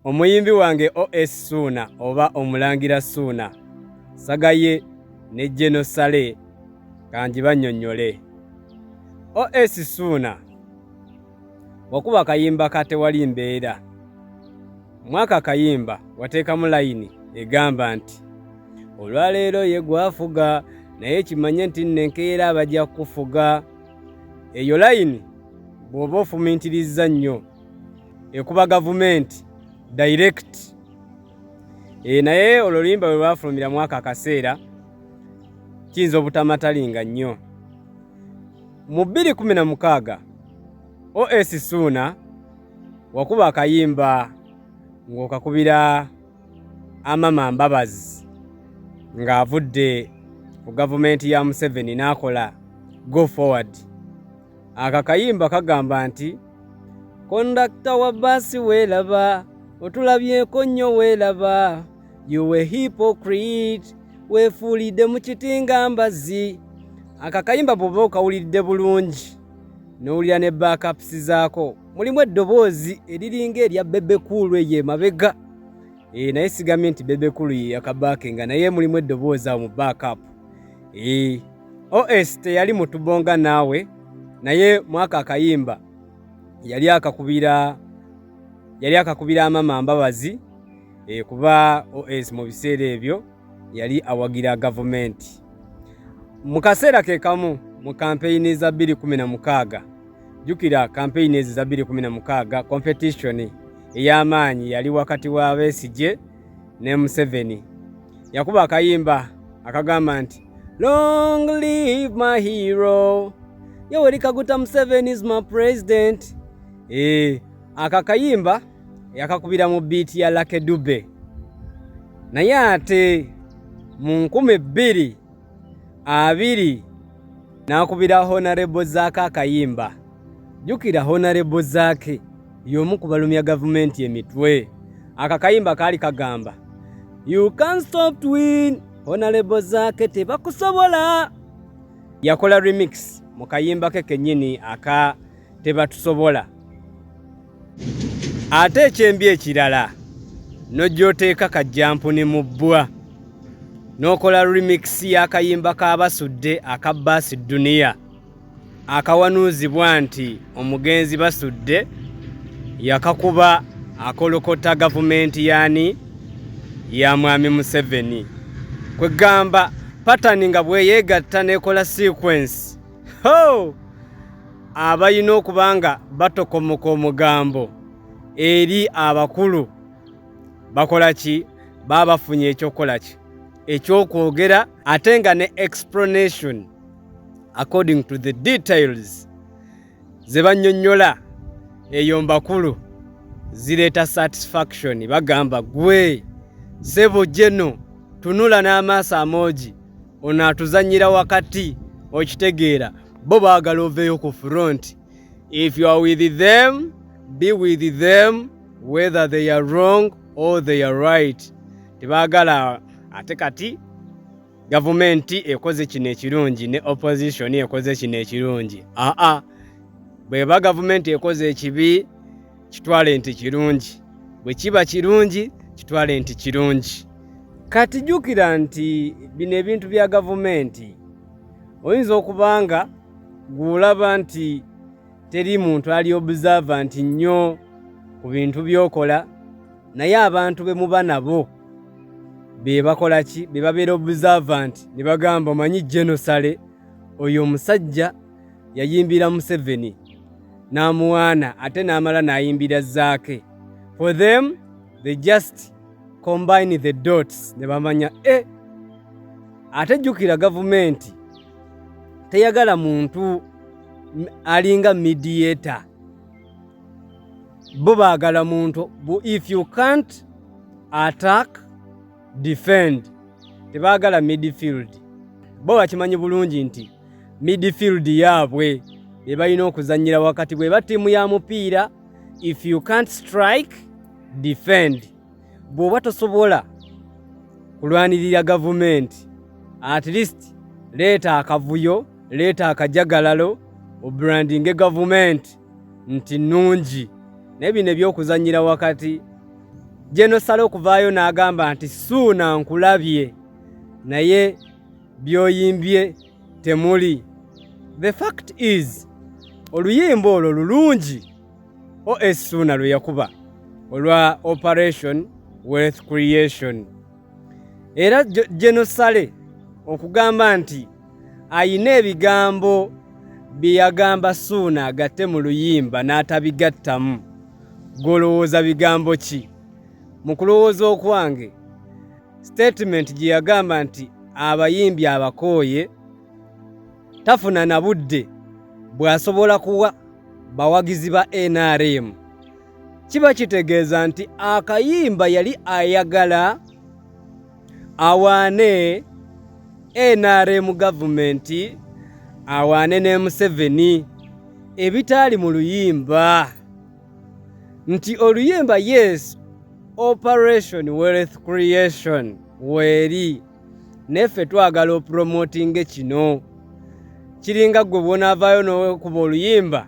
Omuyimbi wange OS Suuna oba Omulangira Suuna Sagaye ne Geno Sale kangi bannyonnyole. OS Suuna wakuba akayimba ka tewali mbeera. Mwaka akayimba wateekamu layini egamba nti olwaleero ye gwafuga naye kimanye nti nno enkeera bajja kukufuga. Eyo layini bw'oba ofumiitiriza nnyo. ekuba gavumenti direct e, naye olwo luyimba bwe lwafulumira mwaka akaseera kiyinza obutamatalinga nnyo mu 216 os suuna wakuba akayimba ng'okakubira amama mbabazi ng'avudde ku gavumenti ya museveni n'akola go forward Aka kayimba kagamba nti kondakta wa basi welaba otulabyeko nnyo welaba you were hypocrite wefuulidde mu kiti nga mbazzi aka kayimba bwoba okawulidde bulungi nowulira ne bakapusi zaako mulimu eddoboozi eriringa erya bebe kuulu eyo emabega e, naye sigambye nti bebe kulu yeyakabaake nga naye mulimu eddoboozi awo mu backup e, os teyali mutubonga naawe naye mwaka akayimba yali akakubira yali akakubira amama mbabazi e, kuba os mu biseera ebyo yali awagira gavumenti mu kaseera ke kamu mu kampeyini za 2016 jjukira kampeyini ezo za 2016 kompetitioni ey'amaanyi yali wakati wa besigye ne museveni yakuba akayimba akagamba nti long live my hero yoweri kaguta museveni is my president e, eh, akakayimba yakakubira mu biiti ya Lucky Dube naye ate mu nkumi bbiri abiri n'akubira honarebo zaake akayimba jjukira honarebo zaake y'omu ku balumya gavumenti emitwe aka kayimba kaali kagamba you can stop to win honarebo zaake tebakusobola yakola remix mu kayimba ke kennyini aka tebatusobola ate ekyembi ekirala nojja oteeka kajjampuni mu bbwa n'okola remix y'akayimba ka basudde aka baasi duniya akawanuuzibwa nti omugenzi basudde yakakuba akolokota gavumenti yaani ya mwami museveni kwegamba patani nga bweyeegatta n'ekola sequence ho abalina okuba nga batokomoka omugambo eri abakulu bakola ki baba bafunye ekyokukola ki ekyokwogera ate nga ne explanation according to the details ze bannyonnyola eyo mbakulu zireeta satisfaction bagamba gwe sebo jeno tunula n'amaaso amoogi ono atuzanyira wakati okitegeera bo baagala oveeyo ku front if you are with them be with them whether they are wrong or they are right tebaagala ate kati gavumenti ekoze kino ekirungi ne opposition ekoze kino ekirungi aa bweba gavumenti ekoze ekibi kitwale nti kirungi. Bwe kiba kirungi, kitwale nti kirungi. Kati jjukira nti bino ebintu bya gavumenti. Oyinza okuba nga gw'olaba nti teri muntu ali obusava nti nnyo ku bintu by'okola, naye abantu be muba nabo be bakola ki? Be babeera obusava nti ne bagamba omanyi jenosale oyo omusajja yayimbira museveni n'amuwaana ate n'amala n'ayimbira zaake for them they just combine the dots ne bamanya e eh, ate jjukira gavumenti teyagala muntu alinga mediator bo baagala muntu if you can't attack defend tebagala midfield bo bakimanyi bulungi nti midfield yaabwe be balina okuzannyira wakati bweba tiimu ya mupiira if you can't strike defend bw'oba tosobola kulwanirira gavumenti at least leeta akavuyo leeta akajagalalo obrandinge gavumenti nti nnungi naye bino ebyokuzanyira wakati gyenosala okuvaayo n'agamba nti suuna nkulabye naye byoyimbye temuli the fact is oluyimba olwo lulungi os suuna lwe yakuba olwa operation wealth creation era genosale okugamba nti ayina ebigambo bye yagamba suuna agatte mu luyimba n'atabigattamu golowooza bigambo ki mu kulowooza okwange sitatimenti gye yagamba nti abayimbi abakooye tafuna na budde bw'asobola kuwa bawagizi ba nrm kiba kitegeeza nti akayimba yali ayagala awaane nrm gavumenti awaane ne museveni ebitaali mu luyimba nti oluyimba yes operation wealth creation weeri neffe twagala opromotinge kino kiringa gwe bwonaavaayo nokuba oluyimba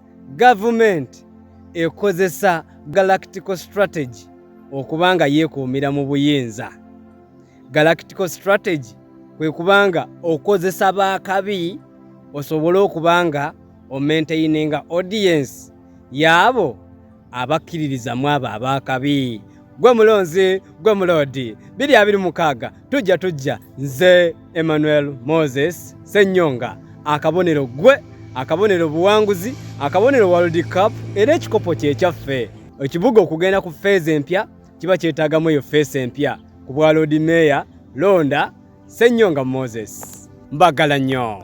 gavumenti ekozesa galactical strategy okuba nga yeekuumira mu buyinza galactical strategy kwe kuba nga okozesa baakabi osobole okuba nga omaintaininga audience yaabo abakkiririza mu abo abaakabi gwe mulonzi gwe muloodi biri abiri mukaaga tujja tujja nze emmanuel moses sennyonga akabonero gwe akabonero buwanguzi akabonero world cup era ekikopo kyekyaffe ekibuga okugenda ku feeza empya kiba kyetaagamu eyo feesa empya ku bwa loodi meeya londa sennyonga moses mbagala nnyo